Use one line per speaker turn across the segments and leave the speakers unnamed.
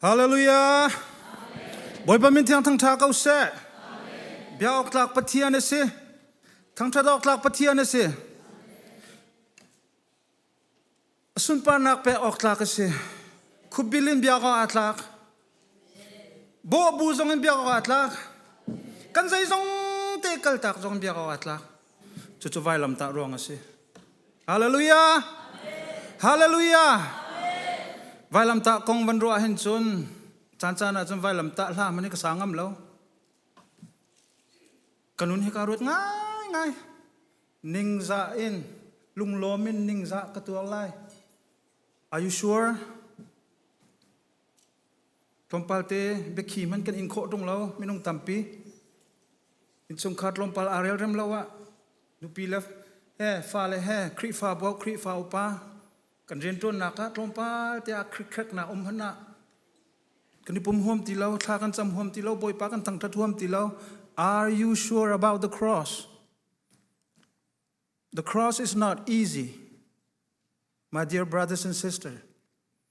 Hallelujah! Bawipa min thiang thangṭha ko seh. Bia awk tlak Pathian a si. Thangṭhat awk tlak Pathian a si. A sunparnak pek awk tlak a si. Khupbil in biak awk aa tlak. Bawh bu zong in biak awk aa tlak. Kan zei zong te kaltak zong in biak awk aa tlak. Cucu vailamtah ruang a si. Hallelujah! Hallelujah! Vailamtah kong van ruah hin cun caan caan ah cun vailamtah hla hman hi ka sa ngam lo. Kanun hi ka ruat ngai ngai. Ningza in lunglawm in ningza ka tuar lai. Are you sure? Tlawmpalte biakhi hman kan in khawh ṭung lo minung tampi. Innchungkhar tlawmpal aa rel rem lo ah nupi le he fale he Khrihfa bu Khrihfa upa kan rianṭuannak ah tlawmpal te ah khrikkhreknak um hmanh ah kan i pum huam ti lo, thla kan cam huam ti lo, Bawipa kan thangṭhat huam ti lo. Are you sure about the cross? The cross is not easy. My dear brothers and sisters,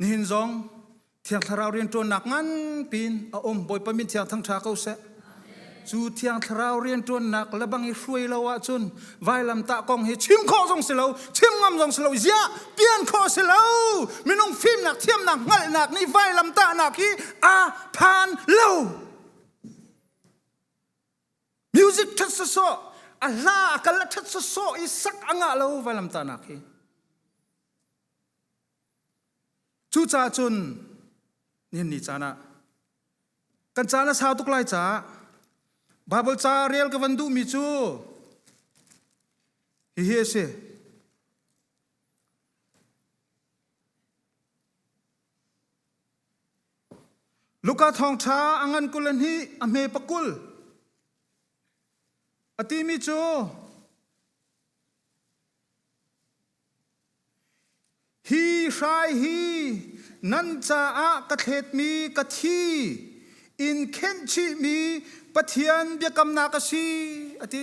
Nihin zong Thiang Thlarau rianṭuannak nganpi in a um Bawipa min thiang thangṭha ko seh. Cu Thiang Thlarau rianṭuannak lebang i hruai lo ahcun vailamtah kong hi chim khawh zong si lo, chim ngam zong si lo, ziah pian khawh si lo. Minung fimnak thiamnak hngalhnak nih vailamtahnak hi aa phan lo. Music ṭhat sawsawh, a hla a kal a ṭhat sawsawh i sak a ngah lo vailamtahnak hi. Cucaah cun nihin ni caan ah kan caan a sau tuk lai caah Baibal ca rel ka van duhmi cu hihi a si. Luka thawngṭha a ngan kul in hi a hme pakul a timi cu Hi hrai hi nan caah ka thletmi ka thi in khenh chihmi Pathian biakamnak a si a ti.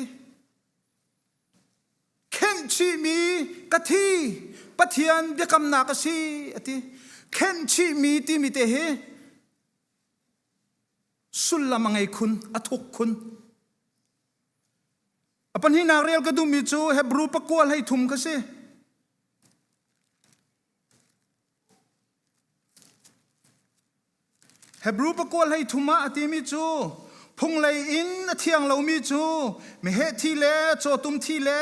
Khenh chihmi ka thi Pathian biakamnak a si a ti. Khenh chihmi timi te hi sullam a ngei khun, a thuk khun. A pahnihnak rel ka duhmi cu Hebrew pakua hlei thum kha si. Hebrew pakua hlei thum ah a timi cu phunglei in a thiang lomi cu meheh thi le cawtum thi le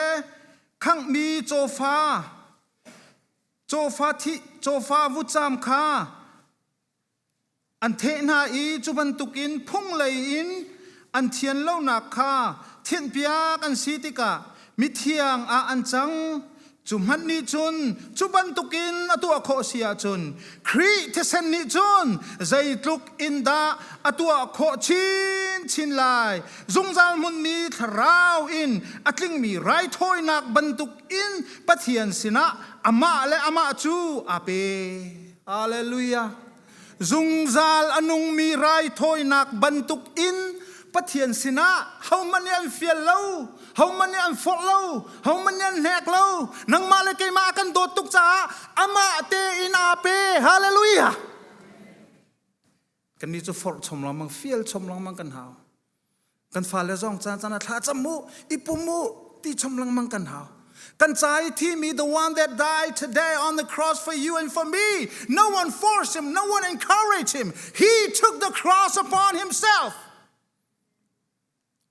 khanghmi cawfa cawfa thi cawfa vutcam kha An theh hna i cu bantukin phung lei in an thian lonak kha thinhpiak an si tikah mithiang ah an cang. Cu hmanh nih cun cu bantukin a tuah khawh si ahcun Khrih thisen nih cun zeitluk in dah a tuah khawh chinchin lai. Zungzal hmunmi thlarau in a tlingmi raithawinak bantukin Pathian sinah amah le amah cu aa pe. Hallelujah. Zungzal a nungmi raithawinak bantuk in Pathian sinah homan nih an fial lo, homan nih an forh lo, homan nih an hnek lo, nangmah le keimah kan dawt tuk caah amah tein aa pe. Hallelujah. kannih cu forh chom lengmang fial chom lengmang kan hau kan fale zong caan caan thla cham u ipum u ti chom lengmang kan hau kan ca i thimi the one that died today on the cross for you and for me no one forced him no one encouraged him he took the cross upon himself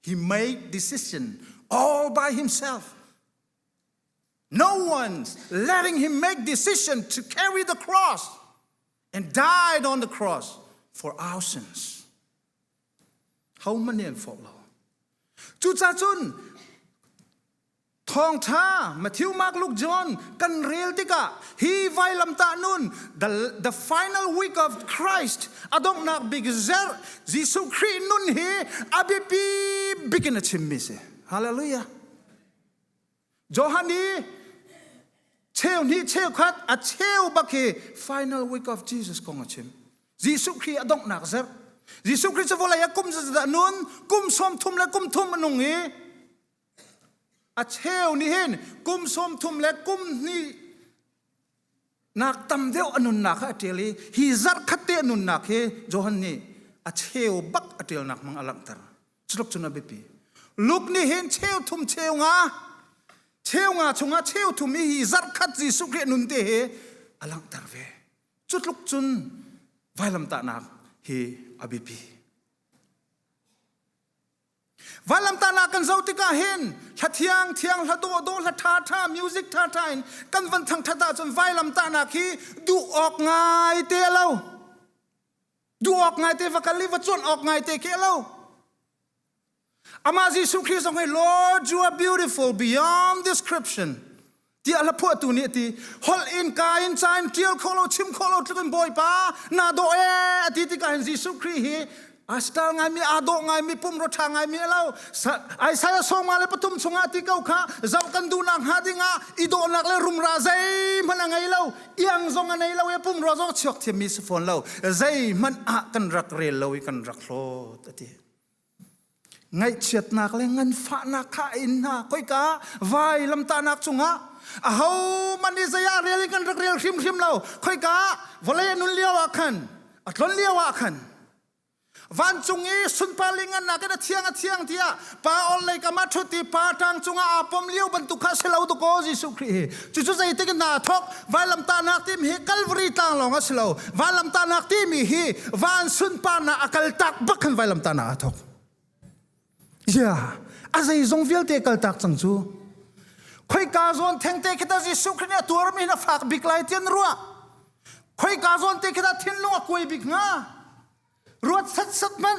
he made decision all by himself No one's letting him make decision to carry the cross and died on the cross for our sins. Homan in for lo. Cucacun thawngtha Matthew Mark Luke John kan rel tikah hi vailam ta nun the, the final week of Christ adonghnak big zer Jesuh Khrih nun hi abipi bikin a chimmi si. Hallelujah. Johan i cheu hnih cheu khat a cheu bak hi final week of Jesus kong a chim. Jesuh Khrih a donghnak zerh. Jesuh Khrih cu vawlei a kum zaza nun kum sawm thum le kum thum a nung i a cheu nih hin kum sawm thum le kum hnih Ngak tam deuh a nunnak kha a ṭial i hi zarh khat te a nunnak hi Johan nih a cheu bak a ṭialnak mang a langhter. Culuk cun a biapi. Luke nih hin cheu thum cheu nga cheu nga chungah cheu thum i hi zarh khat Jesuh Khrih nun te hi a langhter ve. Cu tluk cun vailamtahnak hi a biapi. Vanlamtahnak kan zoh tikah hin hla thiang thiang hla dawh dawh hla ṭha ṭha music ṭha ṭha in kan van thangṭhat ahcun vailamtahnak hi duh awk ngai te lo duh awk ngai te va kal i va cuanh awk ngai te ke lo amah Jesuh Christ zong hi Lord you are beautiful beyond description tiah hlaphuahtu nih ti holh in kain cain ṭial kho lo chim kho lo tluk in bawipa na dawh e a ti tikah hin Jesuh Khrih hi astal ngaimi aa dawh ngaimi pumro ṭha ngaimi a lo Isaiah sawma le pathum chungah ti ko kha zoh kan duhnak hnga dingah i dawhnak le rumra zeihmanh a ngei lo iang zong a nei lo i pumro zong chuak thiammi si fawn lo zeihmanh ah kan rak rel lo i kan rak hlawt a ti Ngaihchiatnak le nganfahnak kha a in hna. Koika vai lamtahnak cungah ahoman nih zei ah rel in kan rak rel hrimhrim lo. Khoika vawlei a nun lio ah khan a tlon lio ah khan vancung i sunparling annak in a thiang a thiang tiah pa orhlei kam ah ṭhut i pa ṭang cungah aa pom lio bantuk kha si lo dakaw Jesuh Khrih hi cucu zeitik in hna thok vailamtahnak tim hi kalvari tlang lawng a si lo vailamtahnak timi hi van sunparnak a kal tak bak khan vailamtahnak a thok yeah a zeizong vialte kal tak cang cu khoi ka zawn thengte kita jesu khrin a tuar mi na fak bik lai tian ruwa khoi ka zawn te kita thinlung a kuai bik nga ruat sat sat man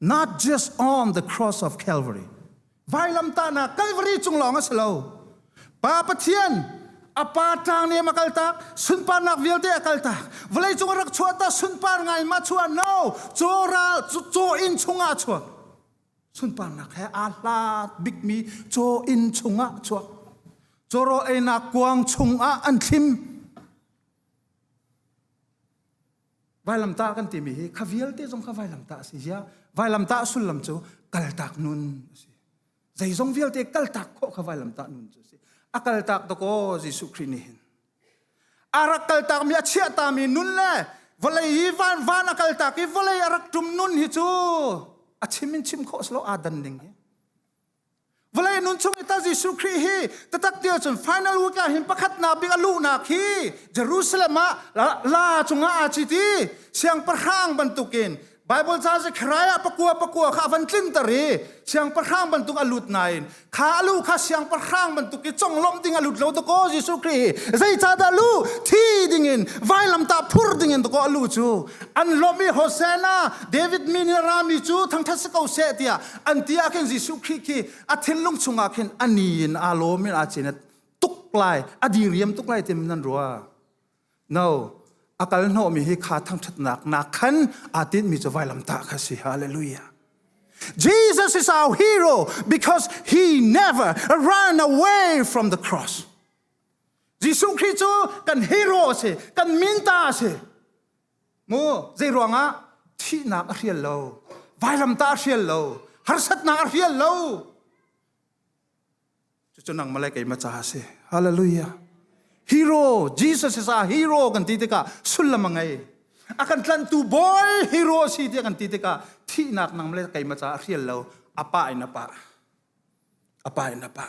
not just on the cross of Calvary. Vailamtahnak Calvary cung lawng a si lo. Pa Pathian a pa tlang nih a kal tak sunparnak vialte a kal tak vawlei cung a rak chuah ta sunpar ngai ma chuah no caw ral caw in chungah chuak sunparnak he aa hlat bikmi caw in chungah chuak cawraw einak kuang chungah an thlim Vailamtah kan timi hi kha vialte zong kha vailamtah a si zia vailamtah sullam cu kaltak nun a si zeizong vialte kaltak khawh kha vailamtah nun cu a si a kaltak to ko Jesuh Khrih nih hin arak kaltak mi a chiahta mi nun le vawlei hi van van a kaltak i vawlei a rak tum nun hi cu a chim in chim khawh slo aa dan ding hi Vale nun chung i ta Jesuh Khrih hi tatak tia cun final week ah hin pakhat na bik a luh nak hi Jerusalem ah la cungah a citi siangpahrang bantukin Bible ca si kharai ah pakua pakua kha van tlinter i siangpahrang bantuk a lut nain kha lu kha siangpahrang bantuk i conglawmh ding a lut lo dako Jesuh Khrih zeicahdah lu thi dingin vailam ta phur dingin dako a lu cu an lawmh i Hosanna David mi nih rami cu thangthat si ko seh tiah an ti ah khin Jesuh Khrih khi a thinlung chungah khin ani in a lawm in a cin tuk lai a diriam tuk lai tim nan rua no a kal mi hi kha thangthatnak nak khan a tin mi cu vailam ta kha si hallelujah Jesus is our hero because he never ran away from the cross Jesuh Khrih cu kan hero si kan minta si mu zeiruangah thihnak a hrial lo vailamtah a hrial lo harsatnak a hrial lo cucu nang malai keima ca a si hallelujah hero jesus is a hero kan ti tikah sullam a ngei a kan tlanhtu bawl hero si ti kan ti tikah thihnak nang malai keima ca a hrial lo apa in apa apa in apa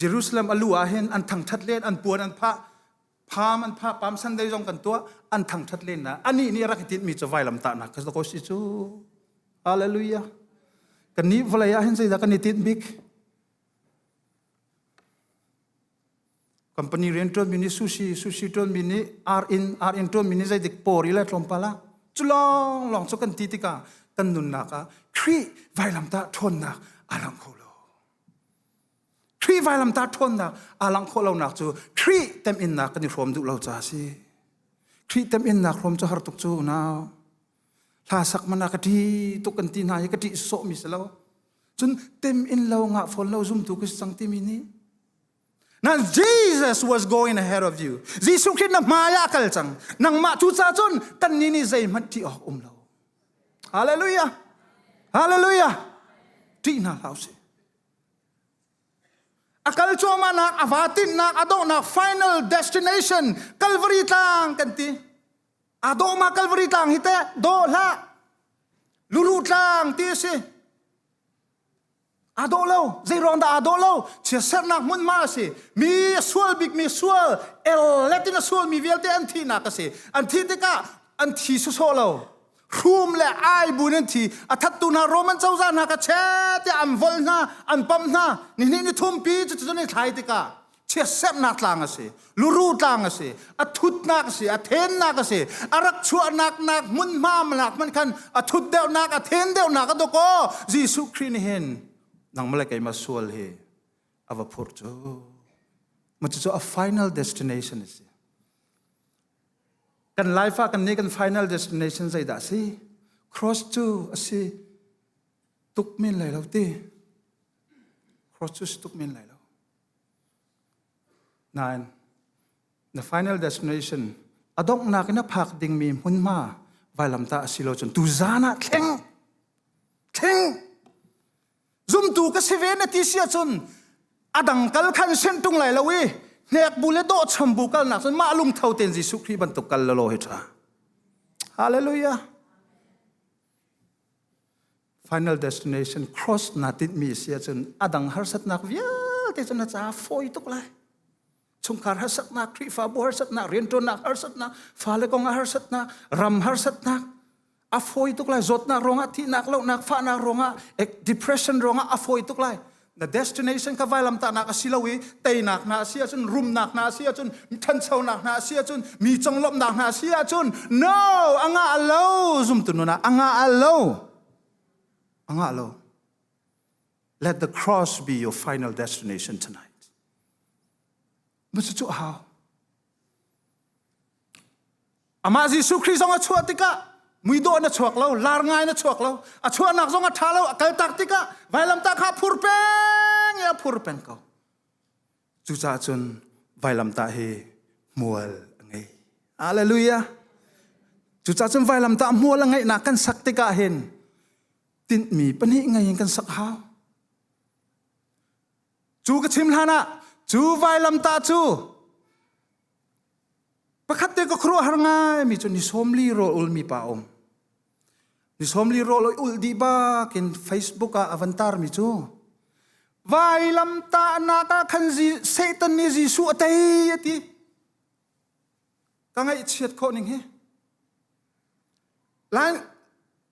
Jerusalem a lu ah hin an thangthat len an puan an phah pham an phah pam sunday zong kan tuah an thangthat len na ani nih rak tin mi cu vai lam ta nak ka ko si chu hallelujah kan ni vlei ah hin zeidah kan i tin bik company rian tuan mi nih sushi sushi tuan mi nih r in r in tuan mi nih zeidik pori le tlawmpala cu long long cu kan ti tikah kan nunnak ah khrih vailam ta ṭhawnnak a lang kho lo Khrih vailamta ṭhawnnak aa langh khawh lonak cu Khrih teminnak kan i hrawm duh lo caah a si. Khrih teminnak hrawm cu har tuk cu unau. Hla sak man ah ka ṭi tuk kan ti hna i ka ṭih sawhmi si lo. Cun tem in lo ngah fawn lo zumtu ka si cang timi nih Now Jesus was going ahead of you. Jesuh Khrih na hmai ah kal cang. Nangmah cu ca cun kannih nih zeihmanh ṭih awk um lo. Hallelujah! Hallelujah! Ṭih hna hlah usih. A kal cuahmahnak, a va tinhnak, a donghnak final destination Calvary tlang kan ti. A dawhma Calvary tlang hi teh daw hlah. Luru tlang ti a si. aa dawh lo zei ruang dah aa dawh lo chia sernak hmunhma a si mi a sual bikmi sual ellet in a sualmi vialte an thihnak a si an thih tikah an thi sawsawh lo hrum le ai buin an thi a thattu hna roman cozah hna kha che tiah an volh hna an pamh hna nihnih ni thumpi cucu cun i thlai tikah chiatsemnak tlang a si luru tlang a si a thutnak a si a thennak a si a rak chuahnak nak hmunhma nak hman khan a thut deuhnak a then deuhnak a doko Jesuh Khrih nih hin nangmah le keima sual hi a va phur cu ma cu a final destination a si kan life ah kan ni kan final destination zei dah si cross cu a si tuk min lai lo ti cross cu si tuk min lai lo Nain, na final destination a donghnak in a phak dingmi hmunhma vailamtah a si lo cun tuzan ah thleng thleng zumtu ka si ve na ti si ahcun a dang kal khan sin tung lai lo i hnek bu le dawh cham bu kal nak cun mah lungtho tein Jesuh Khrih bantuk kal lalaw hi ṭha. Hallelujah. Final Destination Cross naa tinhmi a si ahcun a dang harsatnak vialte cu na caah fawi tuk lai. Chungkhar harsatnak, Khrihfabu harsatnak, rianṭuannak harsatnak, fale kong ah harsatnak, ram harsatnak, a fawi tuk lai. Zawtnak ruangah, thihnak, lohnak, fahnak ruangah, depression ruangah a fawi tuk lai. na destination kha vailamtahnak a si lo i teinak hna a si ahcun rumnak hna a si ahcun ṭhanchonak hna a si ahcun mi conglawmhnak hna a si ahcun no a ngah lo zumtu nuna a ngah lo a ngah lo let the cross be your final destination tonight Cucu a hau. Amah Jesuh Khrih zong a chuah tikah muidawh na chuak lo, lar ngai na chuak lo, a chuahnak zong a ṭha lo, a kaltak tikah vailamtah kha phur peng i a phur peng ko. Cucaah cun vailamtah hi hmual a ngei. Alleluia. Cucaah cun vailamtah hmual a ngeihnak kan sak tikah hin tinhmi pahnih ngei in kan sak hau. Cu ka chim hlanah cu vailamtah cu pakhat te ka khuaruahhar ngaimi cu ni sawmli rawl ulmi pa um. Ni sawmli rawl ul dih bak in Facebook ah a van tarmi cu vailamtahnak ah khan Satan nih Jesuh a tei a ti. Ka ngaihchiat khawh ning hi. Lan,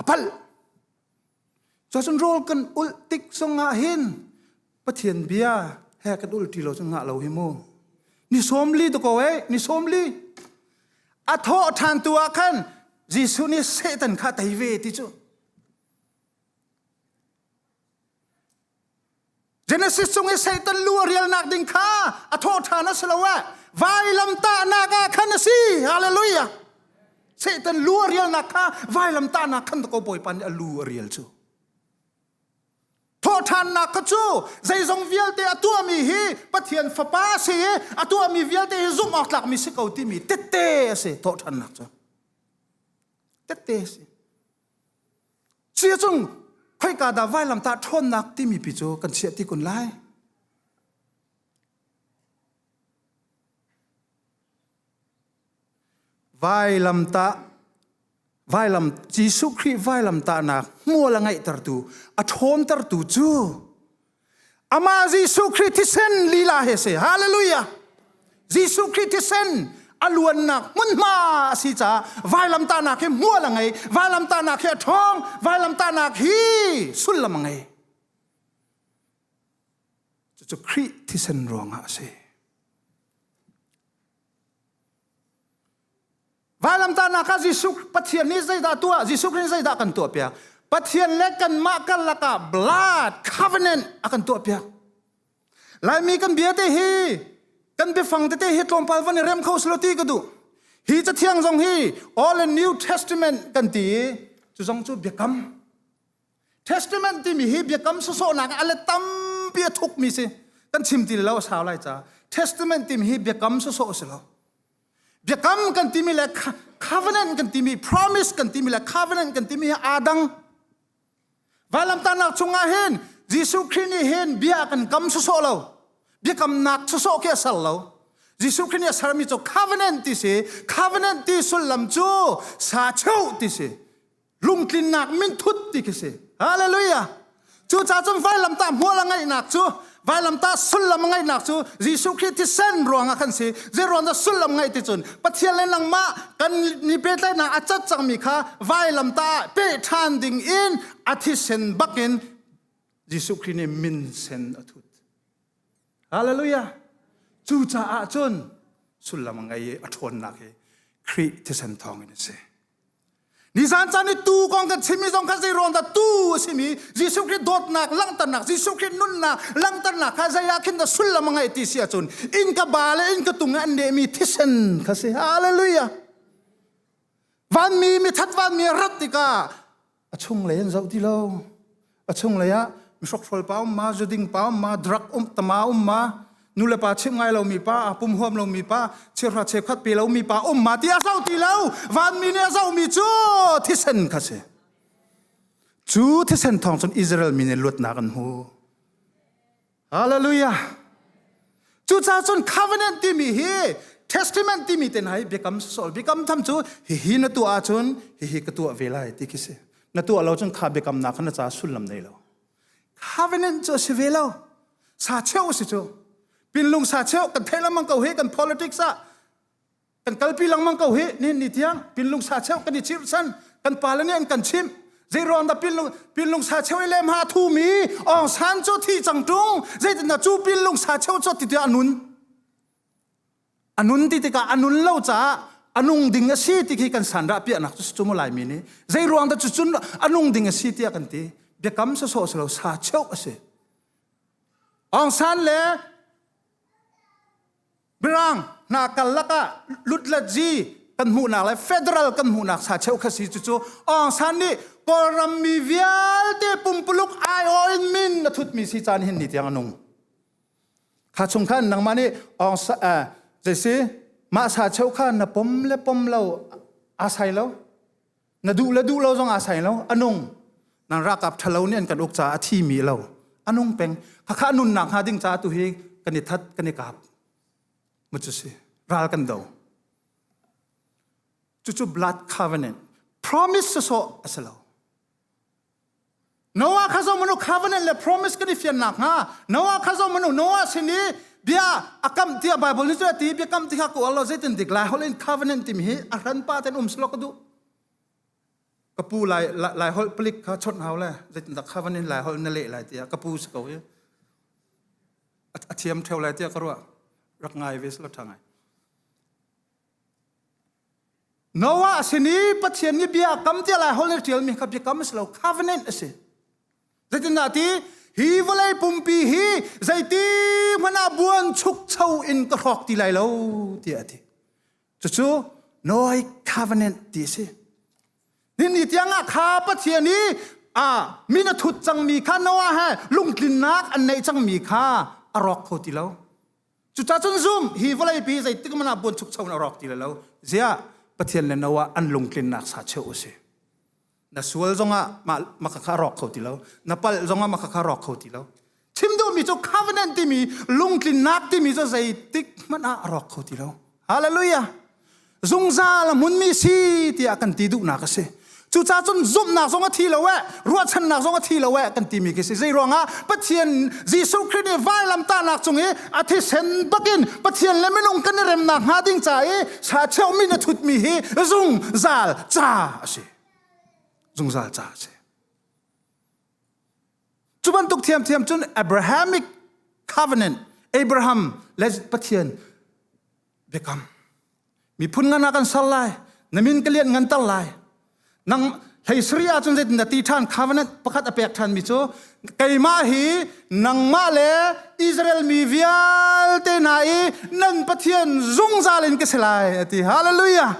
a palh. Cun rawl kan ulh tik zongah hin Pathian bia he kan ul ti lo cu ngah lo hi mu. Ni sawm li to ko eh, ni sawm li. A thawh ṭhan tu ah khan Jesuh nih Satan kha tei ve ti cu Genesis chung i Satan lu a rialnak ding kha a thawh ṭhan a si lo eh vailamtahnak ah khan a si hallelujah Satan lu a rialnak kha vailamtahnak khan ko Bawipa nih a lu a rial cu thawhṭhannak kha cu zeizong vialte a tuahmi hi Pathian fapa a si i a tuahmi vialte hi zumh awk tlakmi si ko timi tette a si thawhṭhannak cu tette a si Cuya cung khoika dah vailamtah ṭhawnnak timi pi cu kan chiah ti kun lai. Vailamtah vailam Jesuh Khrih vailamtahnak hmual a ngeihtertu a ṭhawntertu cu Amah Jesuh Khrih thisen lila he se. Hallelujah. Jesuh Khrih thisen a luannak hmunhma a si caah vailamtahnak hi mual a ngei vailamtahnak hi a ṭhawng vailamtahnak hi sullam a ngei cucu Khrih thisen ruangah a si Vailamtahnak ah Jesuh Pathian nih zeidah tuah? Jesuh Khrih nih zeidah kan tuah piak? Pathian le kanmah karlak ah blood covenant a kan tuah piak. Laimi kan bia te hi kan biafang tete hi tlawmpal van i rem kho selo ti ka duh. Hi cathiang zong hi All and New Testament kan ti i cu zong cu biakam. Testament timi hi biakam sawsawhnak a le tampi a thukmi si. Kan chim ti lo a sau lai ca. Testament timi hi biakam sawsawh si lo. biakam kan timi le covenant kan timi promise kan timi le covenant kan timi hi aa dang vailamtanak chungah hin Jesuh Khrist nih hin bia kan kam soso lo biakam nak soso ke ser lo Jesuh Khrist nih a sermi cu covenant ti si covenant ti sullam cu sa cheu ti si lungtlinnak minthut ti khi si hallelujah cuca cun vailamtah hmual a ngaihnak cu vailamtah sullam a ngaihnak cu Jesuh Khrist thisen ruangah kan si zeruangah sullam ngaih ti cun Pathian le nangmah kan ni pehtlaihnak a cat cangmi kha vailamtah pe ṭhan ding in a thisen bakin Jesuh Khrist nih min sen a thut hallelujah cucaah cun sullam a ngei i a ṭhawnnak hi Khrih thisen thawngin a si Nizan caan i tuu kong kan chimmi zong kha zeiruang dah tuu a simi Jesuh Khrih dawtnak langhternak Jesuh Khrih nunnak langhternak kha zei ah khin dah sullam a ngeih ti si ahcun in ka ba le in ka tung i an nehmi thisen kha si. Hallelujah. Vanmi mithat vanmi rat tikah a chunglei an zoh ti lo a chunglei ah mihrokhrol pa um ma zuding pa um ma drug um tama um ma nule pa chim ngai lomi pa pum huam lomi pa chirhra che khuat pe lomi pa um ma ti a zo ti lo vanmi nih a zomi cu thisen kha si cu thisen thawng cun Israel mi nih luatnak an hmu Hallelujah. Cucaah cun covenant timi hi testament timi te nai biakam sol biakam tham cu hihi na tuah ahcun hihi ka tuah ve lai ti khi si na tuah lo cun kha biakam na kha na ca sullam nei lo covenant cu si ve lo sa cheu si cu pinlung sa cheu kan theih lamang ko he kan politics ah kan kalpi lengmang ko hi nin ni tiang pinlung sa cheu kan i chimh san kan pale nih an kan chimh zei ruang dah pinlung pinlung sa cheu i lem ha thu mi ong san cu thi chang tung zeitin na cu pinlung sa cheu cu ti tia anun anun ti tikah anun lo caah anung ding a si ti khi kan san ra piahnak cu cu mu lai mi ni zei ruang dah cu cun anung ding a si tiah kan ti biakam sa so selo sa cheu a si ong san le Mirang hna karlak ah lutlet zi kan hmuhnak le federal kan hmuhnak sa cheu khasi cu cu Aung San nih Kawlram mi vialte pumpuluk aihawl in min a thutmi si caan hin ni tiang anung. Kha chung khan nangmah nih Aung San eh, jesi mah sa cheu kha na pom le pom lo asai lo na duh le duh lo zong aa sai lo anung nan rakap ṭhalo nih an kan uk caah a thimi lo anung peng khakha nunnak hnga ding caah tu hi kan i that kan i kap mu cu si ral kan do cucu blood covenant promise sawh a si lo Noah kha zoh manu covenant le promise kan i fian nakhnga Noah kha zoh manu Noah sin i bia a kamh tiah Bible nih cu a ti bia kamh ti kha ka uar lo zeitin dik lai holh in covenant timi hi a hran pa ten um silo ka duh ka pu lai lai holh palik kha chawnh hau le zeitin dah covenant lai holh na leh lai tiah ka pu si ko hi a thiam theo lai tiah ka ruah rak ngai ve silo tha ngai Noah sin i Pathian nih bia a kam tiah lai hol na ṭialmi kha biakam a si lo covenant a si. Zeitindah ti hi vawlei pumpi hi zeiti hmanh ah buanchukcho in ka hrawk ti lai lo tiah a ti. Cucu Noah covenant ti a si. Ninni tiangah kha Pathian i a min a thut cangmi kha Noah he lungtlinnak an neih cangmi kha a rawk kho ti lo. Cucacun zum hi vawleipi zeitik man ah buanchukcho na rawk ti le lo zia Pathian le no ah an lungtlinnak sa cheu usi. Na sual zongah makakha rawk kho ti lo. Na pal zongah makakha rawk kho ti lo. Chim duhmi cu covenant timi lungtlinnak timi cu zeitik hmanh ah rawk kho ti lo. Hallelujah! Zungzal a hmunmi si tiah kan ti duhnak a si. Cucaah cun zumhnak zong a thi lo eh, ruahchannak zong a thi lo eh kan timi khi si. Zei ruangah Pathian Jesuh Christ nih vailamtahnak cung i a thisen bakin Pathian le minung kan i remnak hnga ding ca i sa cheuhmi na thutmi hi zungzal ca a si. Zungzal ca a si. Cu bantuk thiamthiam cun Abrahamic covenant Abraham le Pathian biakam miphun ngan ah kan ser lai na min ka lian nganter lai nang hlei sari ah cun zeitin dah ti ṭhan covenant pakhat a pek ṭhan mi cu keimah hi nangmah le Israel mi vialte hna i nan Pathian zungzal in ka si lai a ti hallelujah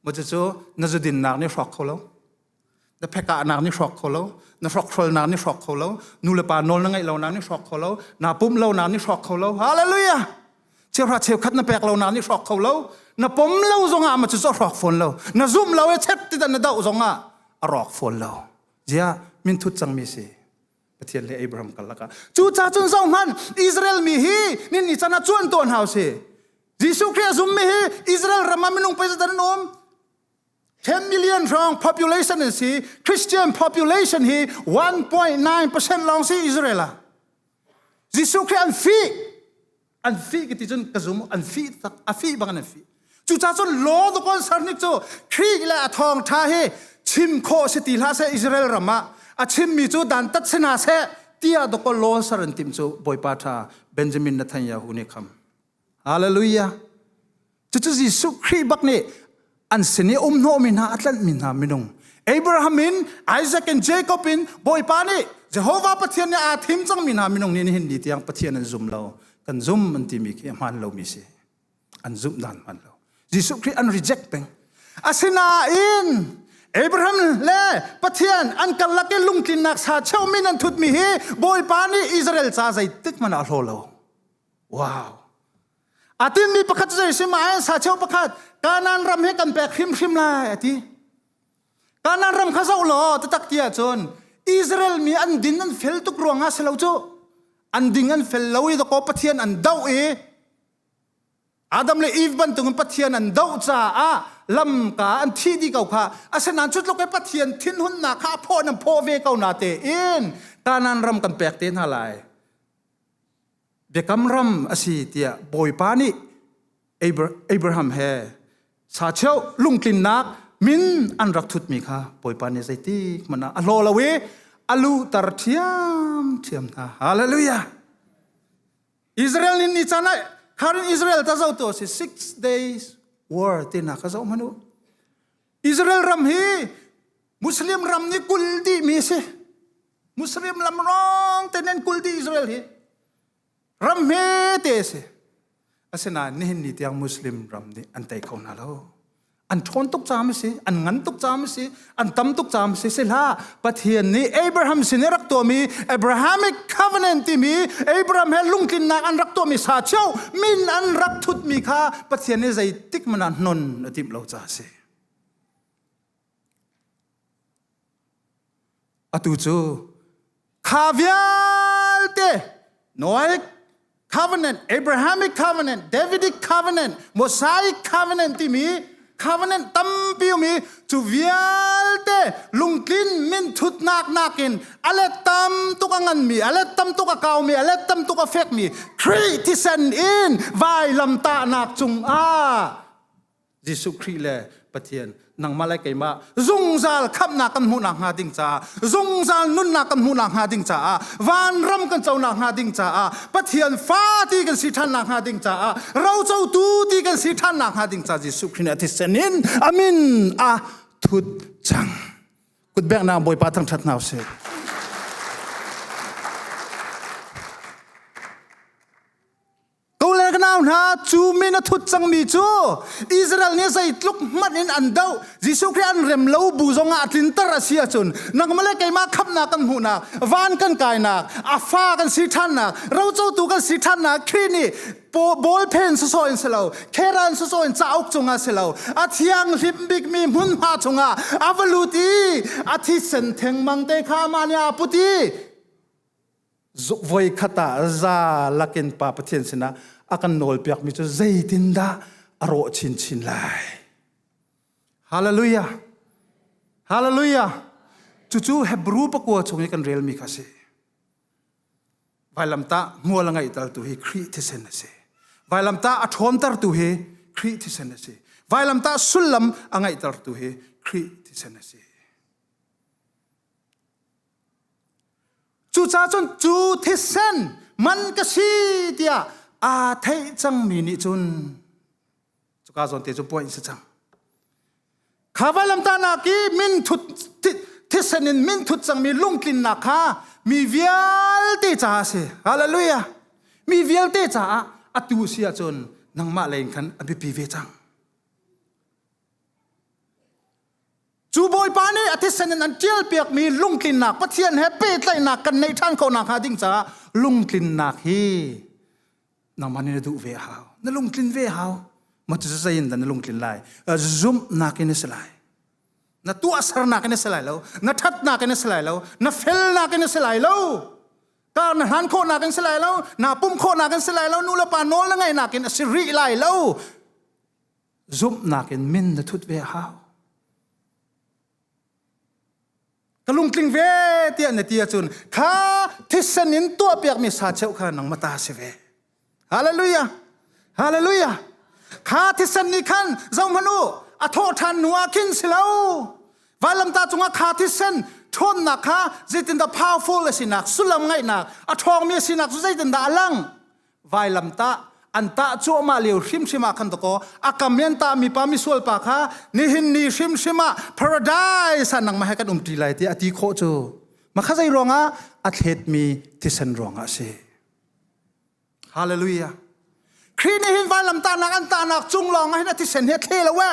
maw cucu na zudinnak nih hrawk kho lo Na phekahnak nih hrawk kho lo. Na hrawkhrolnak nih hrawk kho lo. Nulepa nawl na ngeih lonak nih hrawk kho lo. Naa pumh lonak nih hrawk kho lo. Hallelujah! Cheuhra cheukhat na pek lonak nih hrawk kho lo. Na pom lo zongah ma cu cu a hrawk fawn lo. Na zumh lo i chet ti na doh zongah a rawk fawn lo. Ziah min thut cangmi si. Pathian le Abraham karlak ah. Cucah cun zoh hmanh Israel mi hi nin ni cana cuan tuan hau si. Jesuh Khrih a zummi hi Israel ram ah minung pei zat an um. 10 million hrawng population an si christian population hi 1.9 percent lawng si israel ah jesuh khrih an fih an fih ki ti cun ka zum an fih tak a fih bang an fih cuca cun law the kon sarnik cu khrih le a thawng tha hi chim kho si ti hla se israel ram ah a chimmi cu dan tat sina se tia doko law sar an tim cu boipa tha benjamin netanyahu nih kham Hallelujah! Cucu Jesuh Khrih bak nih an sin i umhnawhmi hna a tlanhmi hna minung Abraham in Isaac in Jacob in Bawipa nih Jehovah Pathian nih aa thim cangmi hna minung nih nihin ni tiang Pathian an zum lo kan zum an timi khi a hmaan lomi si an zumh dan hmaan lo Jesuh Khrih an reject peng asinain Abraham le Pathian an karlak i lungtlinnak sa cheumin an thutmi hi Bawipa nih Israel ca zeitik hmanh ah hlaw lo Wow. A tinmi pakhat cu zeisim ah sa cheu pakhat Kanan ram he kan pek hrimhrim lai a ti. Kanan ram kha zoh law tatak ti ahcun Israel mi an din an fel tuk ruangah si lo cu an ding an fel lo i dakaw Pathian an doh i Adam le Eve bantukin Pathian an doh caah lamka an thi di ko kha asinain cu tluk i Pathian thinhunnak kha a phaw nan phaw ve ko na te in Kanan ram kan pek te hna lai Biakam ram a si tiah Bawipa nih Abraham he sacheu lungtlinnak min an rak thutmi kha Bawipa nih zeiti hmanh ah a hlaw lo i a luhter ṭhiamṭhiam hna. Hallelujah! Israel nin ni caan ah khan Israel ta zotu a si six days war tinak kha zoh hmanh u. Israel ram hi Muslim ram ni kul dihmi si. Muslim lam rong te nen kul di Israel hi ram hme te si. Asinain nihin ni tiang Muslim ram nih an tei ko hna lo. An ṭhawn tuk cam si, an ngan tuk cam si, an tam tuk cam si si hla Pathian nih Abraham sin i rak tuami Abrahamic covenant timi Abraham he lungtlinnak an rak tuami sa cheu min an rak thutmi kha Pathian nih zeitik man ah non a timh lo ca si. Atu cu kha vialte Noahic covenant, Abrahamic covenant, Davidic covenant, Mosaic covenant timi covenant tampi ummi cu vialte lungtlin minthutnak nakin a let tam tuk a nganmi, a let tam tuk a kaumi, a let tam tuk a fekmi Khrih thisen in vailamtahnak cungah Jesuh Khrih le Pathian nangmah le keimah zungzal khamnak kan hmuhnak hnga ding caah zungzal nunnak kan hmuhnak hnga ding caah vanram kan conak hnga ding caah Pathian fa ti kan si ṭhannak hnga ding caah rocotu ti kan si ṭhannak hnga ding caah Jesuh Khrih nih a thisen in amin a thut cang kutbeknak Bawipa thangṭhat hna usih Ka le ka nau hna, cu min a thut cangmi cu Israel nih zeitluk hmanh in an doh, Jesuh Khrih an rem lo bu zongah a tlinter a si ahcun nangmah le keimah khamhnak kan hmuhnak, van kan kainak, a fa kan si ṭhannak, rocotu kan si ṭhannak, Khrih nih bawl phen sawsawh in si lo, khera in sawsawh in cauk cungah si lo, a thianghlim bikmi hmunhma chungah a va lut i a thisen thengmang te kha amah nih aa put i zuk voi khat ah za lakin pa pathian sinah a kan nawlpiakmi cu zeitindah a rawh chinchin lai hallelujah hallelujah cucu hebrew pakua chung i kan relmi kha a si vailamtah hmual ngeih tu hi khrih thisen a si vailamtah a ṭhawmter tu hi khrih thisen a si vailamtah sullam a ngeihter tu hi khrih thisen a si Cucaah cun cu thisen man ka si tiah aa theih cangmi nih cun cuka zawn te cu puai in si cang. Kha vailamtahnak i min thut thisen in min thut cangmi lungtlinnak kha mi vialte caah a si. Hallelujah. Mi vialte caah atu si ahcun nangmah lei in khan a biapi ve cang. Cu Bawipa nih a thisen in an ṭialpiakmi lungtlinnak Pathian he pehtlaihnak kan neih ṭhan khawh nakhnga ding caah lungtlinnak hi nangmah nih na duh ve a hau. Na lungtlin ve a hau. Maw cu zei in dah na lungtlin lai? Zumhnak in na si lai. Na tuahsernak in na si lai lo. Na ṭhatnak in na si lai lo. Na felnak in na si lai lo. Kar na hlan khawhnak in si lai lo. Naa pum khawhnak in si lai lo. Nu le pa nawl na ngeihnak in a si rih lai lo. Zumhnak in min na thut ve a hau. Ka lungtling ve tiah na ti ahcun kha thisen in tuahpiakmi sa cheu kha nang mata si ve. Hallelujah. Hallelujah. Kha thisen nih khan zohhmanh u a thawh ṭhan hnuah khin si lo. Vailamta cungah kha thisen ṭhawnnak kha zeitindah powerful a sinak sullam ngaihnak a ṭhawngmi a sinak cu zeitindah a lang vailam tah an tah cuahmah lio hrimhrim ah khan to ko a kam yan ta mi pa mi sual pa kha nihin ni hrimhrim ah paradise ah nang ma he kan um ti lai ti a ti khawh cu ma kha zei ruangah a thlet mi thisen ruangah si hallelujah Khrih nih hin vailam tahnak an tahnak cung lawng ah hin a thisen hi a thle lo we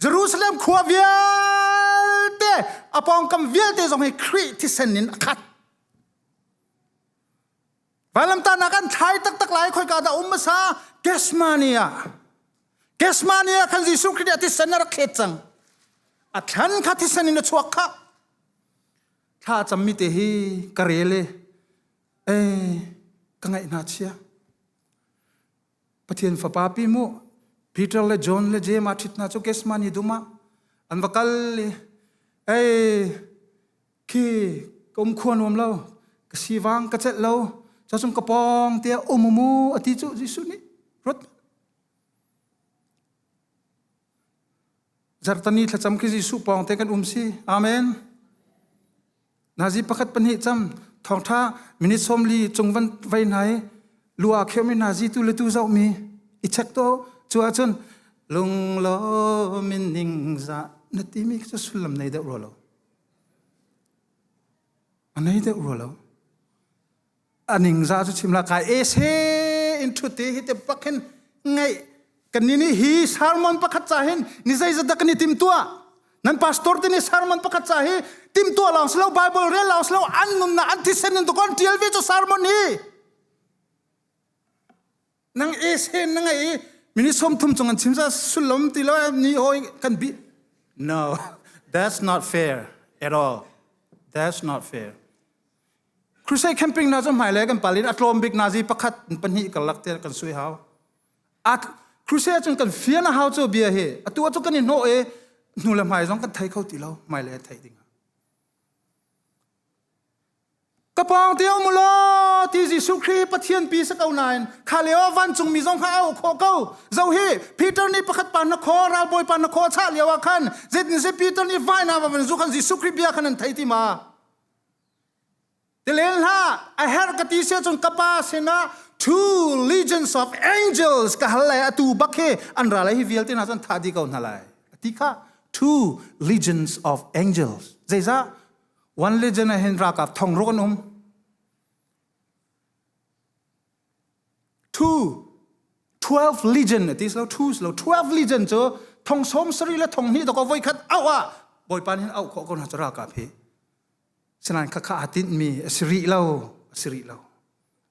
Jerusalem khua vialte a pawngkam vialte zong hi Khrih thisen in a khat Vailamtahnak an thlai taktak lai khoika dah um hmasa Kesmani ah Kesmani ah khan Jesuh Khrih nih a thisen a rak khet cang a thlan kha thisen in a chuak kha thla cammi te hi ka rel e e ka ngaih hna chia Pathian fapa pi mu Peter le John le Jeim a ṭhit hna cu Kesmani dum ah an va kal i ei khi ka um khuan nuam lo ka siwang ka chet lo cho chung ka pong te um mu ati chu Jesuh nih rot zartani thlacam khi Jesuh pong te kan um si amen nazi pakhat pahnih cham thongtha minute somli chungvan vai nai lua kheumi nazi tu letu zau mi i chek to chu achun lung lo min ning za na ti mi chu sullam nei deuh ro lo A nei deuh rua lo. A ningzah cu chim la kai e se in ṭhute hi te bak hin ngai kan ni ni hi sermon pakhat ca hin ni zei zadak ni tim tua nan pastor te ni sermon pakhat ca hi tim tua long slo bible rel long slo an nunna an thisen in to kon tial ve cho sermon hi nang e sen na ngei mini som thum chung an chimza sulom ti lo ni hoi kan bi no that's not fair at all that's not fair crusade camping na zo hmai le kan palin atlom bik nazi pakhat pahni kan lak te kan sui hau a crusade chung kan fiana hau cho bia he atu chu kan in no e nu le hmai zong kan thai kho ti lo hmai le thai ding ka pawng teo mu law ti Jesuh Khrih Pathian pi si ko nain kha leo vancung mi zong kha a uk khawh ko zo hi Peter nih pakhat pa na khaw ralbawi pa na khaw chah lio ah khan zetin se Peter nih vai na va van zu khan Jesuh Khrih bia khan an thei ti ma tilen hla a her ka ti se cun ka pa sinah two legions of angels ka hal le atu bak hi an ra lai hi vialte hna cun tha di ko hna lai ti kha two legions of angels zeizah One Legend ah hin ralkap thong ruk an um. Two, 12 Legion ati silo two silo 12 Legion cu thong som sari le thong hnih dok voi khat au ah bawipa hin au kho ko na chara ka phi sinan kha kha atin mi asiri lo asiri lo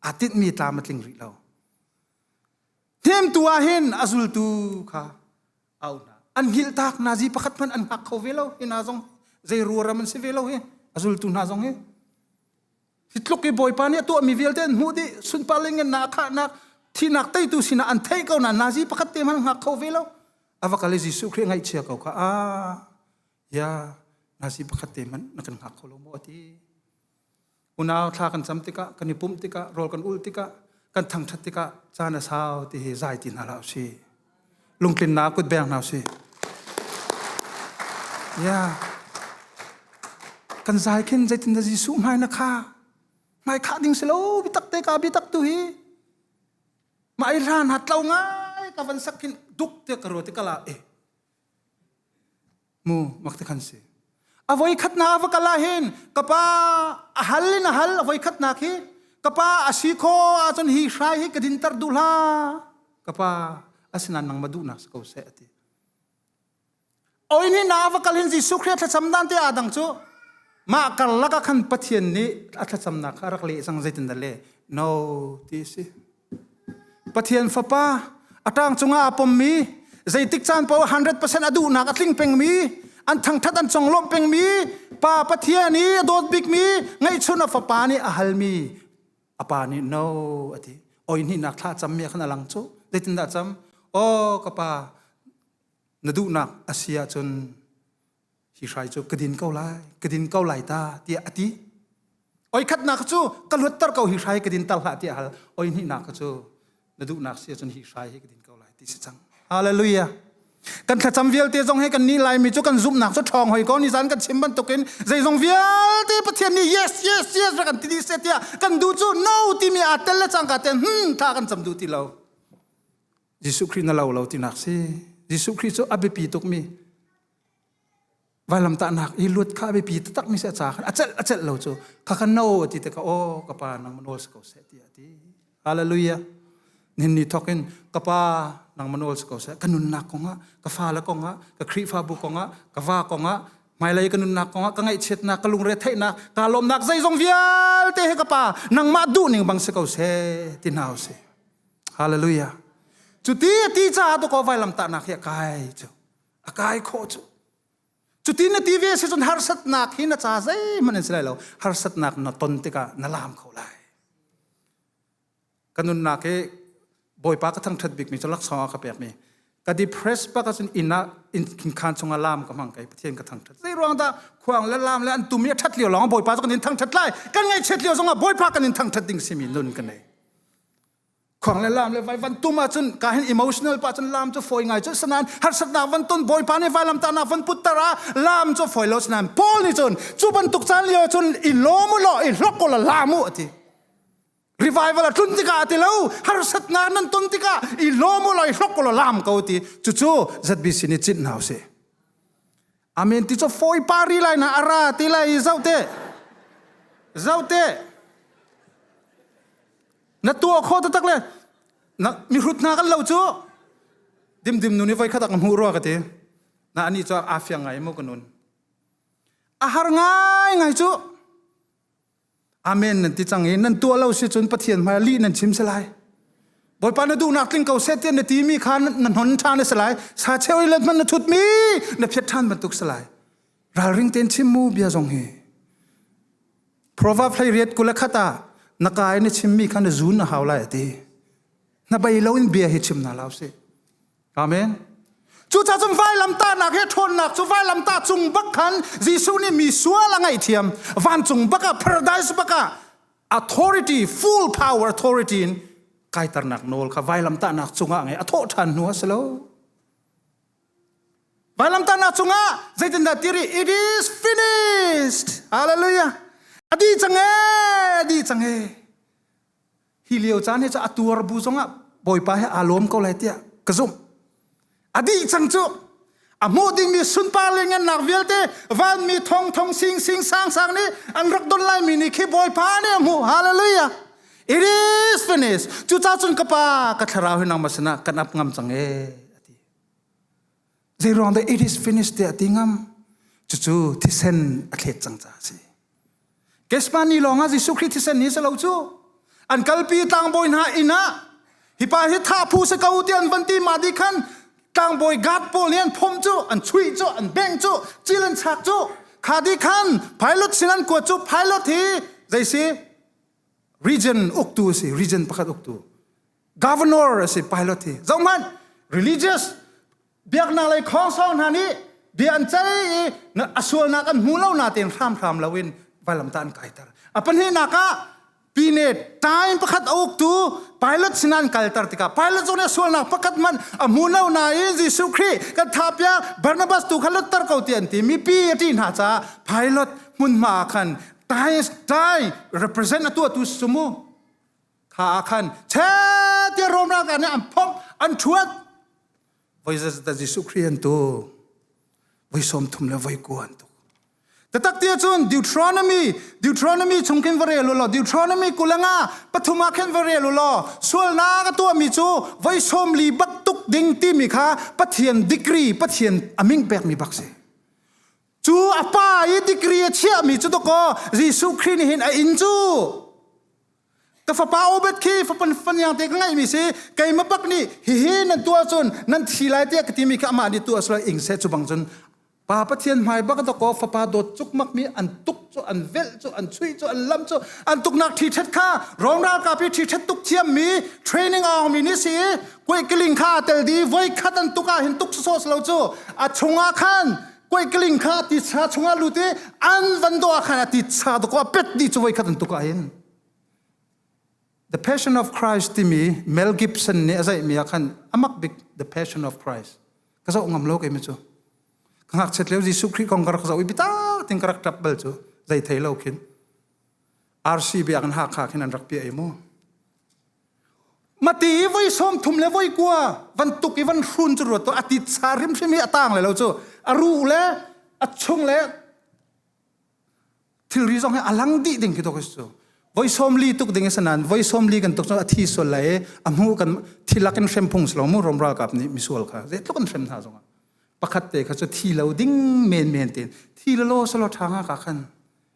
atin mi tlam atling ri lo hnim tu ah hin azultu kha au hna an hngilh tak nazi pakhat hmanh an hngak kho ve lo hi na zong zei ruaram an si ve lo hi azultu hna zong hi hi tluk i bawipa nih a tuah mi vialte an hmuh dih sunparling in na khahnak thinak teitu sinah an theih ko na nazi pakhat te man hngak kho ve lo ava kale jesuh khrih ngaihchia ko kha a ya nazi pakhat te man na kan hngak kho lo maw ti unau thla kan cam tikah kan i pumh tikah rawl kan ul tikah kan thangṭhat tikah caan a sau ti hi zai ti hna hlah usih lungtlinnak kut beng hna usih ya kan zai khin zeitin da Jesuh hmai na kha hmai khah ding si lo bitak te ka bitak tu hi ma i ran ha tlo ngai ka van sak khin duk te ka ro te kala e mu mak te khan si avoi khatna va kala hin kapa a hal in a hal avoi khatna khi kapa asi kho a chon hi hrai hi ka din tar du la kapa asinan nang ma du na ko se ati oin hi na va kal hin jesu khriya thlacam dan te adang chu ma kar laka khan pathian ni a thlacam na kha rak le sang zeitin da le no ti si Pathian fapa a ṭang cungah aa pommi zeitik caan paoh 100% a duhnak a tling pengmi an thangṭhat an conglawmh pengmi pa Pathian i a dawt bikmi ngeihchun a fapa nih a halmi a pa nih no a ti oi hnihnak thla cammi khan a lang cu zeitindah cam aw ka pa na duhnak a si ahcun hi hrai cu ka din ko lai ka din ko lai ta tiah a ti oi khat nak cu ka luatter ko hi hrai ka din tal hlah tiah hal oi hnih nak cu na duhnak si cun hi hrai hi ka din ko lai ti si cang hallelujah kan thlacam vialte zong he kan ni lai mi cu kan zumhnak cu ṭhawng hoi ko ni zan kan chim bantukin zeizong vialte pathian nih yes yes yes ra kan ti di se tiah kan du cu no timi a tel le cangka ten hmm tha kan cam duh ti lo Jesuh Christ na lo lo tinak si Jesuh Christ cu a biapi tuk mi Vailamtahnak i luat kha a biapi taktakmi seh ca khan a celh a celh lo cu kha kha no ti te ka aw ka pa nang manawl si ko seh ti a ti hallelujah nin ni thok in ka pa nang manawl si ko seh ka nunnak kongah ka fale kongah ka khrihfabu kongah ka va kongah hmailei ka nunnak kongah ka ngaihchiatnak ka lungre theihnak ka lawmnak zeizong vialte he ka pa nangmah duhning bang si ko seh ti hna si hallelujah cuti a ti caah tu ko vailamtahnak hi a kai cu a kai khawh cu cutin na ti ve si cun harsatnak hi na ca zeihmanh an si lai lo harsatnak na ton tikah na laam kho lai ka nunnak hi bawipa ka thangṭhat bikmi cu laksawng ah ka pekmi ka depress pa ka cun inn ah inn khan chungah laam ka hmang kai pathian ka thangṭhat zei ruang dah khuang le laam le an tum i a ṭhat lio lawng bawipa cu kan in thangṭhat lai kan ngaihchiat lio zongah bawipa kan in thangṭhat ding simi nun ka nei Khuang le lam le vai van tum ahcun ka hin emotional pa cun lam cu foi ngai cu sanan harsatnak van ton bawipa nih vailam tahnak van putter ah lam cu foi lo sanan Paul nih cun cu bantuk caan lio cun i lawm u law i hlok u la lam u a ti revival a tlun tikah a ti lo harsat nga nan ton tikah i lawm u law i hlok u la lam ko ti cucu ZBC nih cinh hna u si amen ti cu fawi pa ri lai na ara ti lai zoh te zoh te na tuah kho ta tak le na mi hrut hna kan lo cu dimdim nu nih voi khatak na hmuh rua ka ti na ani cu a fiang ngai mu kanun a har ngai ngai cu Amen nan ti cang i nan tuah lo si cun Pathian hmai lih nan chim si lai. Bawipa na duhnak tling ko seh tiah na ti mi kha na hnon ṭhan si lai. Sa cheu i let hmanh na thut mi na phiat ṭhan bantuk si lai. Ralring tein chim mu bia zong hi. Proverb hlei riat kula khat ah na ka i na chim mi kha na zun na hau lai a ti. Na bei lo in bia hi chim na lau si. Amen. Cuca cun vailamtahnak he ṭhawnnak cu vailamtah cung bak khan Jesuh nih mi sual a ngaihthiam. Vancung bak ah paradise bak ah authority full power authority in kaiternak nawl kha vailamtahnak cungah ngai a thawh ṭhan hnu a si lo. Vailamtahnak cungah zeitindah ti rih? It is finished. Hallelujah. A di cang e, a di cang e. Hi lio caan hi cu a tuar bu zongah Bawipa he aa lawm ko lai tiah ka zumh. A dih cang cu a hmuh dingmi sunpar le ngannak vialte vanmi thong thong sing sing sang sang nih an rak don laimi nih khi Bawipa nih a hmuh hallelujah it is finished cuca cun ka pa ka thlarau hi nangmah sinah kan ap ngam cang ee zeiruang dah it is finished tiah ti ngam cucu thisen a thlet cang ca a si kesmani lawngah Jesuh Khrih thisen ni se lo cu an kalpi tlangbawi hna inn ah hipa hi thah phu se ko ti an van ti ma di khan tlangbawi guard pawl nih an phom cu an chuih cu an beng cu cil an chak cu kha di khan pilot sin an kuat cu pilot hi jaisi region uktu si region pakhat uktu governor asi pilot hi zohmanh religious biaknak lei khawngsau hna nih bia an cel i a sualnak an hmu lo natein hramhram loin vailam ta an kaiter a pahnihnak ah pine time pakhat a uktu pilot sinan kalter tikah pilot zong nih sualnak pakhat man a hmu lo nain Jesuh Khrih kan thapia Barnabas tu kha lutter ko ti an ti mipi a ti hna caah pilot hmunhma ah khan time time represent atu atu sumu kha ah khan che ti rom ra ka ne an phok an thuat voi za ta Jesuh Christ an tu voi som thum le voi ku an tu tatak tia chun Deuteronomy Deuteronomy chungkin vare lo lo Deuteronomy kulanga pathuma khen vare lo lo sualna ka tua mi chu voi som li bak tuk ding ti mi kha pathian degree pathian aming pek mi bak si chu apa i degree a chia mi chu to ko Jesuh Christ hin a in chu ka fapa Obed khi fapan faniang te ka ngaihmi si keima bak nih hihi nan tuah cun nan thi lai te ka timi kha amah nih tuah sura ing se chu bang cun pa pathian hmai bak doko fapa dawt cuk mak mi an tuk cu an velh cu an chuih cu an lam cu an tuknak thi thet kha ronral ka pi thi thet tuk thiam mi training aung mi ni si kuai kiling kha tel di voi khat an tuka hin tuk so lo chu a chungah khan koi kling kha ti cha chunga lut i an van do khana ti cha do ko pet ni chuwai khat tu ka in The Passion of Christ timi Mel Gibson nih a zaih mi khan amak bik The Passion of Christ ka zau ngam lo ke mi chu ka ngak chet leu Jesu Christ kong ka rak zau i bita ting ka rak tlap bal chu zai thei lo khin RC bi an ha kha khin an rak pia ai mu Mati i voi sawm thum le voi kua van tuk i van hrun cu ruat to a tit sa hrimhrim hi a tang le lo cu a ruh le a chung le thilri zong hi a lang dih ding khi tuk is cu voi sawm li tuk ding i sanan voi sawm li kan tuk cu a thi sual lai i a hmu kan thi lak in hrem phung si lo mu romral kap nih misual kha zei tluk an hrem hna zong ah pakhat te kha cu thi lo ding men men te thi lo lo solo ṭha nga ka khan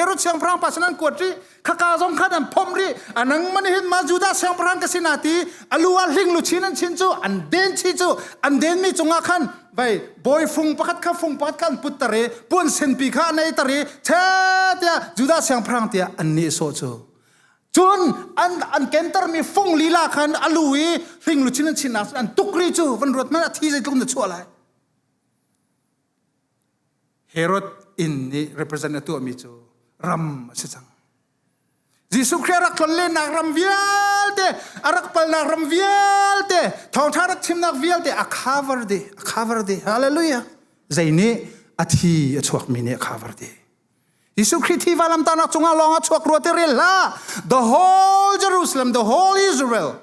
Herod siangpahrang pa san an kuat ri khaka zong khan an phom ri anang man hin ma Judah siangpahrang ka sina ti aluwa hling lu chin an chin cu an den chi cu an den mi cungah khan vai boy fung pakhat kha fung pakhat khan put tare puan sen pi kha anei tare che tia Judah siangpahrang tia an ni so cu cun an an kentar mi fung lila khan alu i hling lu chin an chin nak an tuk ri cu van ruat man a thi zeitlung na chuah lai Herod inn nih represent a tuahmi cu ram a si cang. Jesuh Christ rak tlonlennak ram vialte, a rak palnak ram vialte, thawngṭha rak chimnak vialte a cover dih, a cover dih. Hallelujah. Zei nih a thi a chuakmi nih a cover dih. Jesuh Christ hi valamtanak cungah lawng a chuak rua te rel hlah. The whole Jerusalem, the whole Israel,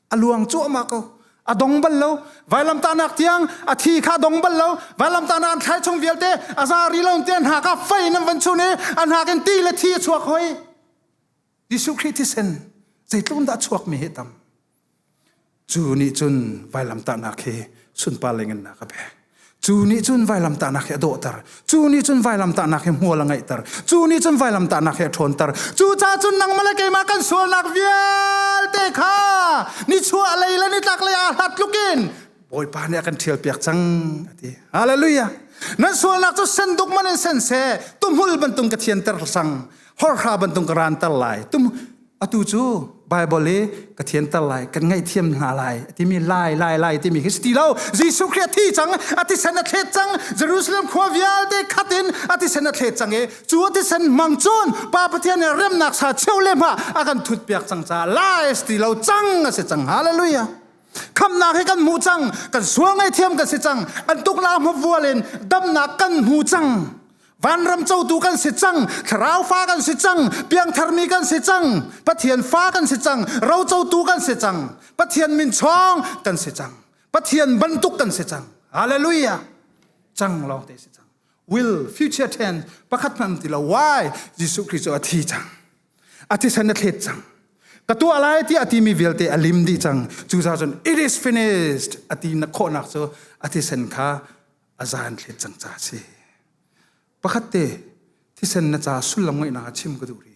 a luang cuahmah ko a dong bal lo vailam tahnak tiang a thi kha dong bal lo vailam tahnak thlai chung vialte a za ri lo te hna ka fei nan van chun i a hna in ti le thi a chuak hoi Jesuh Khrih thisen zeitlun dah chuak mi he tam cu ni cun vailam tahnak hi sunpa lengin na ka pek Cu nih cun vailamtahnak hi a dawhter. Cu nih cun vailamtahnak hi hmual a ngeihter. Cu nih cun vailamtahnak hi a ṭhawnter. Cucaah cun nangmah le keimah kan sualnak vialte kha nichuah lei le nitlak lei aa hlat tluk in Bawipa nih a kan ṭhialpiak cang, a ti. Hallelujah! Nan sualnak cu senduk man in sen seh, tumhul bantuk ka thianter sang, horhra bantuk ka ranter lai. Tum, atu cu Bible i ka thianter lai kan ngaihthiam hna lai timi lai lai lai timi khi si ti lo Jesuh Christ thi cang a tisen a thlet cang Jerusalem khua vialte khat in a tisen a thlet cang i cu a tisen mang cun pa Pathian in remnak sa cheu le ma a kan thut piak cang ca lai si ti lo cang a si cang hallelujah khamnak hi kan hmu cang kan suang ai thiam kan si cang an tuknak hmabvual in damnak kan hmu cang vanram cotu kan si cang thlarau fa kan si cang piangthar mi kan si cang pathian fa kan si cang ro cotu kan si cang pathian min chong kan si cang pathian bantuk kan si cang hallelujah cang lo te si cang will future tense pakhat nan ti lo why jesuh christ a thi cang a thi san a thlet cang ka tu alai ti ati mi vialte alim di cang 2000 it is finished ati na khawhnak cu ati sen kha azan thlet cang ca si pakhat te thisen na ca sullam ngaihnak a chim ka duh ri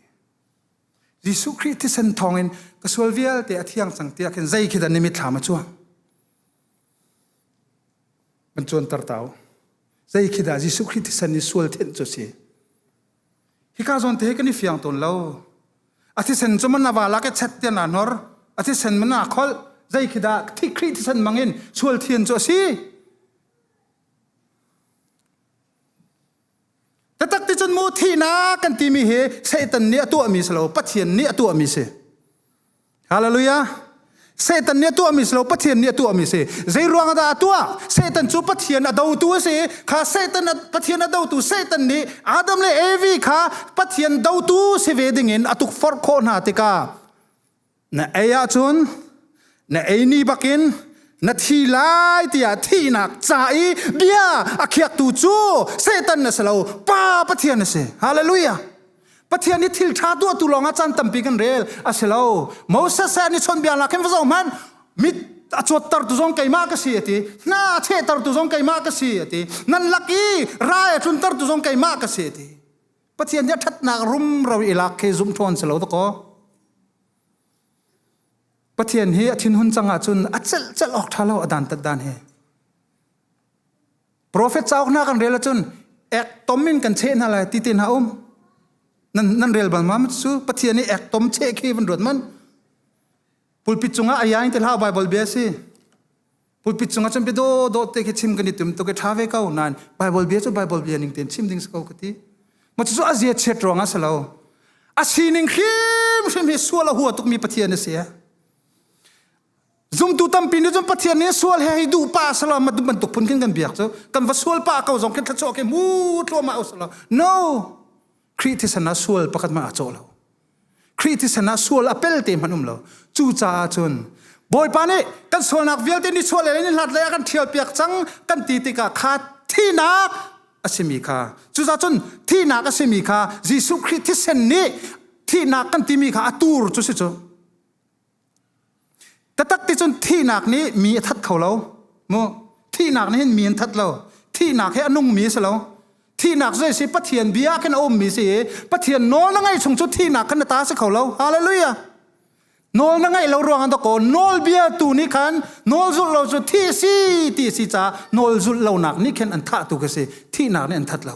Jesuh Khrih thisen thawngin ka sual vialte a thiang cang tiah khin zei khidan ni mithlam a chua man chuan tar tau zei khidah Jesuh Khrih thisen ni sual thenh cu si Hika zawn te kan i fiang tawn lo. A thisen cu man awala ke chet tian a nor. A thisen man a kholh. Zei khi dah thikri thisen mangin sual thian cu a si. Tatak ti cun mu thihna kan timi hi Satan nih a tuahmi si lo, Pathian nih a tuahmi si. Hallelujah. Satan nih a tuahmi si lo, Pathian nih a tuahmi si. Zei ruang dah a tuah? Satan cu Pathian a dotu a si. Kha Satan Pathian a dotu Satan nih Adam le Evi kha Pathian dotu si ve dingin a tukforh khawh hna tikah na ei ahcun na ei ni bakin na thi lai tiah thihnak ca i bia a khiaktu cu Satan na si lo, pa Pathian na si. Hallelujah. Pathian i thil ṭha tuahtu lawngah caan tampi kan rel a si lo. Moses he an i chawnbia nakin va zoh hmanh mit a cuattertu zong keimah ka si a ti. Hna a chehtertu zong keimah ka si a ti. Nan lak i ra a tluntertu zong keimah ka si a ti. Pathian nih a ṭhatnak rumro i lak khi zum ṭhawn si lo takaw. Pathian hi a thinhun cang ahcun a celh celh awk ṭha lo a dantat dan he. Profet cauk hna kan rel ahcun ek tom in kan cheh hna lai ti te hna um. Nan, nan rel bal ma cu Pathian nih ek tom cheh khi van ruat man. Pulpit cungah ayai te hlau Bible bia si. Pulpit cungah cun pido do te khi chim kan i tum to ke tha ve ko nan Bible bia cu Bible bia ning ten chim ding sa ko ka ti. Ma cu azia chet ruang a salo. A sining hrim hrim hi suala hua tuk mi Pathian a si. Zumtu tampi nih cun Pathian nih sual he hi duh pa salo matu bantuk phun khin kan biak cu kan va sual pa ko zong khin thluachuah ke mu tluama u salo no Khrih thisen ah sual pakhat ma a caw lo Khrih thisen ah sual a pel te hman um lo cu caah cun Bawipa nih kan sualnak vialte ni sual le ni hlat lei ah kan thial piak cang kan ti tikah kha thinak asimi kha cuza cun thinak asimi kha Jesuh Khrih thisen nih thinak kan timi kha a tur cu si cu Tatak ti cun thihnak nih mi a that kho lo. Mu thihnak nih hin mi an that lo. Thihnak hi a nungmi a si lo. Thihnak cu si Pathian bia khin a ummi si i Pathian nawl na ngaih chung cu thihnak khan na ta si kho lo. Hallelujah. Nawl na ngaih lo ruangah dakaw nawlbia tu nih khan nawl zulh lo cu thi si ti si ca nawl zulh lonak nih khin an thah tu ka si. Thihnak nih an that lo.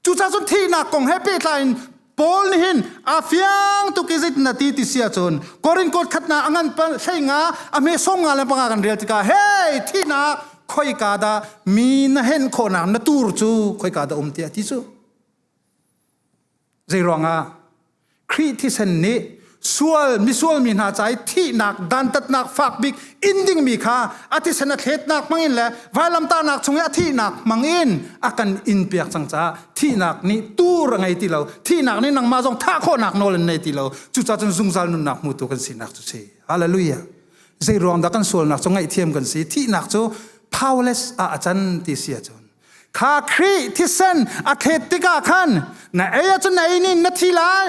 Cucacun thihnak kong he pehtlai in Paul nih hin a fiang tuk i zit na ti ti sia cun Korin kot khatnak a ngan thlenga a mesong nga le panga kan rel tikah hei thihnak khoika dah mi na henh khawhnak na tur cu khoika dah um tiah ti cu Zeiruangah? Khrih thisen nih sual misual mi hna ca i thihnak dantatnak fak bik in dingmi kha a thisen a thletnak hmangin le vailamtahnak chung i a thihnak hmangin a kan in piak cang caah thihnak nih tur a ngei ti lo thihnak nih nangmah zong thah khawhnak nawl in nei ti lo cucaah cun zungzal nunnak hmutu kan sinak cu si hallelujah zei ruang dah kan sualnak cu ngaihthiam kan si thihnak cu powerless ah a can ti si ahcun kha khrih thisen a khet tikah khan na ei acun na ei nin na thi lai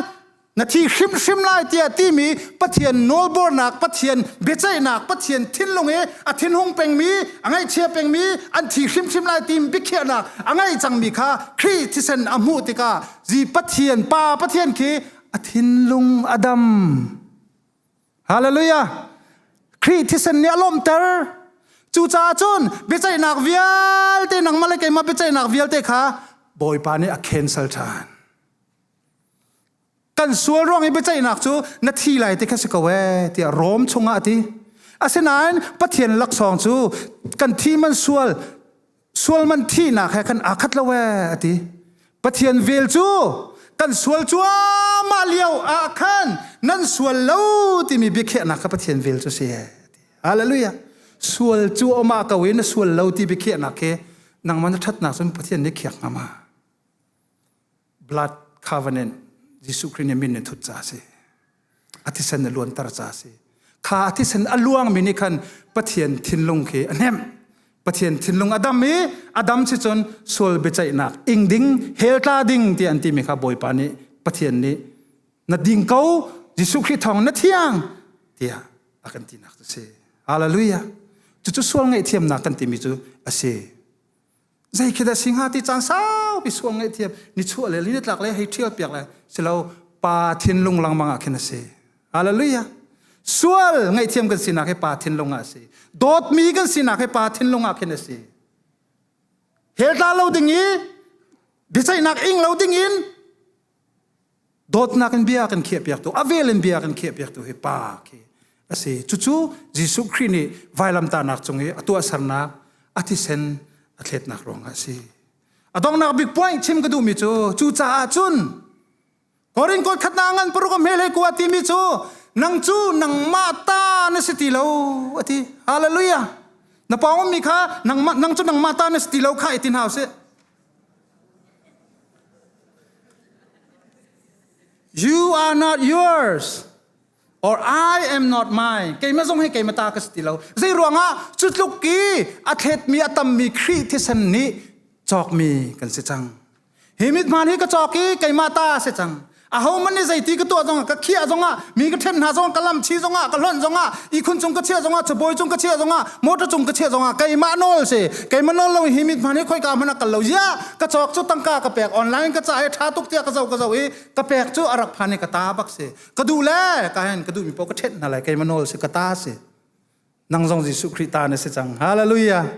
na thi hrimhrim lai tiah timi pathian nawlbornak pathian biaceihnak pathian thinlung i a thinhung pengmi a ngaihchia pengmi an thi hrimhrim lai tim biakhiahnak a ngei cangmi kha khrih thisen a hmuh tikah zi pathian pa pathian khi a thinlung a dam Hallelujah! Khrih thisen nih a lawmhter. Cucaah cun biaceihnak vialte nangmah le keimah biaceihnak vialte kha Bawipa nih a cancel ṭhan. Kan sual ruang i biaceihnak cu na thi lai ti kha si ko ee tiah Rom chungah a ti. Asinain Pathian laksawng cu kan thi man sual sual man thihnak he khan aa khat lo e a ti pathian vel cu kan sual cuahmah lio ah khan nan sual lo timi biakhiahnak kha pathian vel cu si hallelujah sual cu awm ah ko in a sual lo ti biakhiahnak he nangman na thatnak cun pathian nih khiak ngam a blood covenant Jesuh Khrist nih min in thut ca si athisen a luanter ca si kha athisen a luang mi nih khan pathian thinlung khi a hnem pathian thinlung adam i adam si cun sual biaceihnak ing ding hel tla ding ti an ti mi kha bawipa nih pathian nih na ding ko Jesuh Khrist thawng na thiang tiah a kan tinak cu si hallelujah cucu sual ngaihthiamnak kan timi cu a si zei khi da singa ti cang saupi suang ngai thiam ni chuah le li tlak le hei thial piak le silo pa thin lung lang manga khin asi hallelujah sual ngai thiam kan sinak he pa thin lung a si dawt mi kan sinak he pa thin lung ah khin a si hel tla lo ding i biaceihnak ing lo ding in dawtnak in bia kan khiahpiaktu avel in bia kan khiahpiaktu hi pa khi asi cucu Jesuh Khrih nih vailamtahnak cung i a tuahsernak a thisen a thletnak ruang ah si a donghnak big point chim ka duhmi cu cu caah cun Korin kot khatna ngan paruk he le kuwa timi cu nang cu nangmah ta na si ti lo a ti hallelujah na pawng mi kha nangmah nang cu nangmah ta na si ti lo kha i ti hna usih You are not yours or I am not mine. Keimah zong hi keimah ta ka si ti lo. Zei ruangah cu tluk i a thlet mi a tam mi Khrih thisen nih cawk mi kan si cang. Hi mit hmaan hi ka cawk i keimah ta se cang. aho man ni zeiti ka tuah zongah ka khiah zongah mi ka ṭhen hna zongah ka lam chi zongah ka hlonh zongah ihkhun cung ka chiah zongah chabawi cung ka chiah zongah motor cung ka chiah zongah keimah nawl se keimah nawl lo hi mit hman hi khoika hmana kal lo zia ka chawk cu tangka ka pek online ka ca he ṭha tuk tiah ka zo ka zo i ka pek cu arak phan i ka ta bak si ka duh le ka hen ka duh mi po ka ṭhen hna lai keimah nawl se ka ta si nang zong Jesuh Khrih ta na si cang hallelujah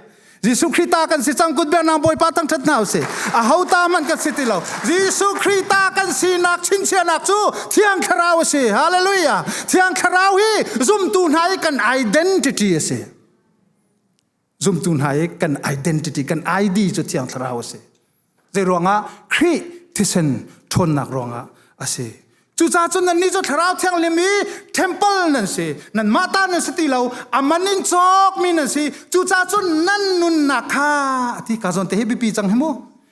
Jesuh Khrih ta kan si cang kut ber nang Bawipa tang ṭhat hna usih a ho ta man kan si ti lo Jesuh Khrih ta kan sinak chinchianak cu Thiang Thlarau a si hallelujah Thiang Thlarau hi zumtu hna i kan identity a si zumtu hna i kan identity kan id cu thiang thlarau a si zei ruangah khrih thisen ṭhawnnak ruangah a si cucaah cun nannih cu thlarau thianghlim i temple nan si nan mah ta nan si ti lo aman in cawk mi nan si cucaah cun nan nunnak kha a ti ka zawn te hi biapi cang hi mu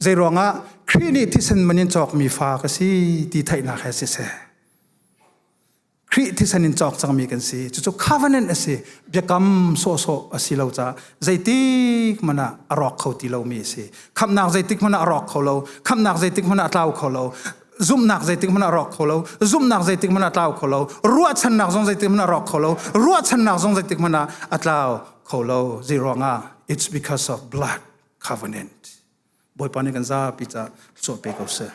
Zeiruangah Khrih nih thisen man in cawkmi fa ka si ti theihnak he siseh, Khrih thisen in cawk cangmi kan si. Cucu covenant a si. Biakam sawhsawh a si lo caah zeitik hmanh ah a rawk kho ti lomi a si. Khamhnak zeitik hmanh ah a rawk kho lo. Khamhnak zeitik hmanh ah a tlau kho lo. Zumhnak zeitik hmanh ah a rawk kho lo. Zumhnak zeitik hmanh ah a tlau kho lo. Ruahchannak zong zeitik hmanh ah a rawk kho lo. Ruahchannak zong zeitik hmanh ah a tlau kho lo. Zeiruangah? It's because of blood. covenant bawipa nih kan zapi ca suah pe ko seh